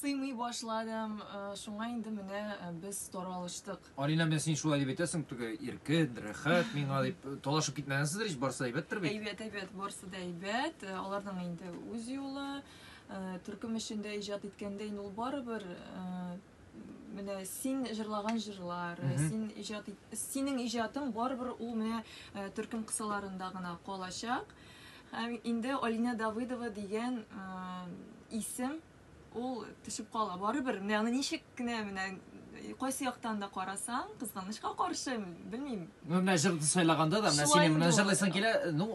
Сыймый башладым, э, шуңа инде менә э, без таралыштык. Алина, менә син шулай дип әйтәсең, түгә иркен, рәхәт миңа дип э, талашып китмәгәнсездер ич, барысы әйбәттер бит. Әйбәт, әйбәт, барысы да әйбәт. Э, Аларның инде үз юлы. Э, Төркем эшендә иҗат иткәндә инде ул барыбер э, менә син җырлаган җырлар, э, син иҗат синең иҗатың барыбер ул менә э, төркем кысаларында гына калачак. Һәм инде Алина Давыдова дигән э, исем ул төшеп кала. Барыбер менә аны ничек кенә менә кайсы яктан да карасаң, кызганычка каршы, белмим, Ну, менә җырды сайлаганда да, менә синең менә җырлыйсың килә, ну,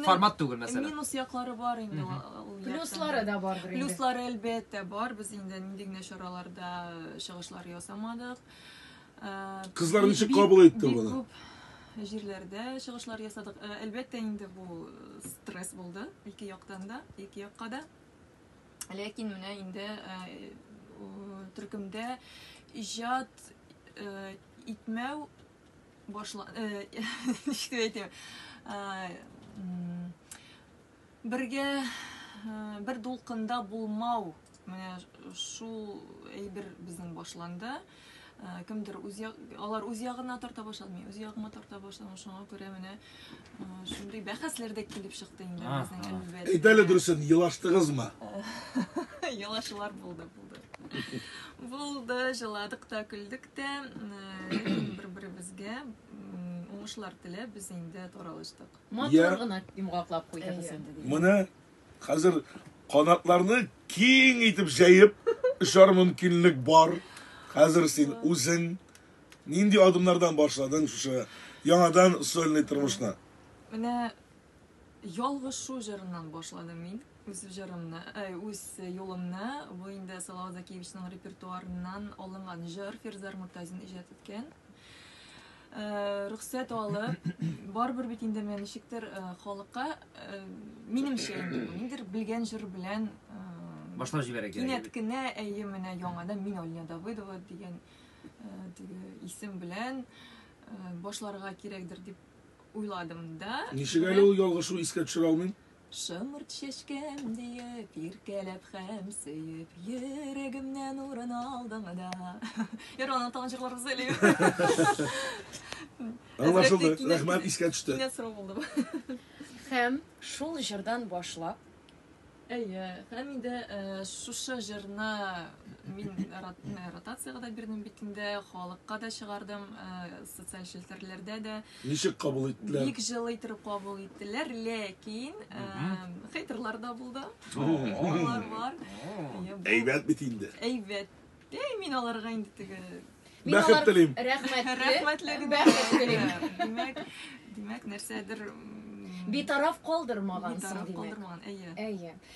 формат түгел, мәсәлән. Минус яклары бар инде. Плюслары да бар. Плюслары, әлбәттә, бар. Без инде нинди генә чараларда чыгышлар ясамадык. Кызлар ничек кабул итте моны? Җирләрдә чыгышлар ясадык. Әлбәттә, инде бу стресс булды. Ике яктан да, ике якка да. Ләкин менә инде төркемдә иҗат Итмәү башла... Э, ничек дип әйтим? Э, бергә э, бер дулкында булмау. Менә шул әйбер безнең башланды. Кемдер үз алар үз ягына тарта башлады, мин үз ягыма тарта башладым. Шуңа күрә менә Шундый бәхәсләр дә килеп чыкты инде А, безнең а. әлбәт. Әйт әле дөресен, елаштыгызмы? Елашулар булды, булды. Булды, җыладык та, көлдек тә. М, Ләкин бер-беребезгә м, уңышлар теләп без инде таралыштык. Я. Матур гына йомгаклап куйдыгыз Әйе. инде. дигән. Менә хәзер канатларны киң итеп җәеп очар мөмкинлек бар. Хәзер син үзең Нинди адымнардан башладың шушы яңадан сольный тормышны? Менә Ялгышу җырыннан башладым мин үз җырымны, э, үз юлымны. Бу инде Салават Закиевичның репертуарыннан алынган җыр, Фирзар Муртазин иҗат иткән. Э, рөхсәт алып, барыбер бит инде мен ничектер э, халыкка минемчә инде ниндидер белгән җыр белән башлап җибәрә кирәк. Кинәт кенә әйе менә яңадан мин Алина Давыдова дигән теге исем белән башларга кирәкдер дип уйладым да. Ничек әле ул ялгышу искә төшерә алмыйм? Шымырт чәчкәм диеп, иркәләп хәм сөеп, йөрәгемнән урын алдың да. Яр аны тагын җырларбыз әле. Аңлашылды. Рәхмәт, искә төште. Кинәт сорау булды. Хәм шул җырдан башлап Әйе, Хәмидә, э, шушы җырны мин рот- э, ротациягә дә бирдем бит инде, халыкка да чыгардым, э, социаль челтәрләрдә дә. Ничек кабул иттеләр? Бик җылы итеп кабул иттеләр, ләкин э, хейтерлар да булды. Алар бар. Әйе, бу Әйбәт бит инде. Әйбәт. Әй, мин аларга инде теге Мин Бәхет алар- телим. Рәхмәтле. рәхмәтле генә. Бәхет телим. Димәк, димәк нәрсәдер м, Битараф калдырмагансың битараф димәк. калдырмаган. Әйе. Әйе.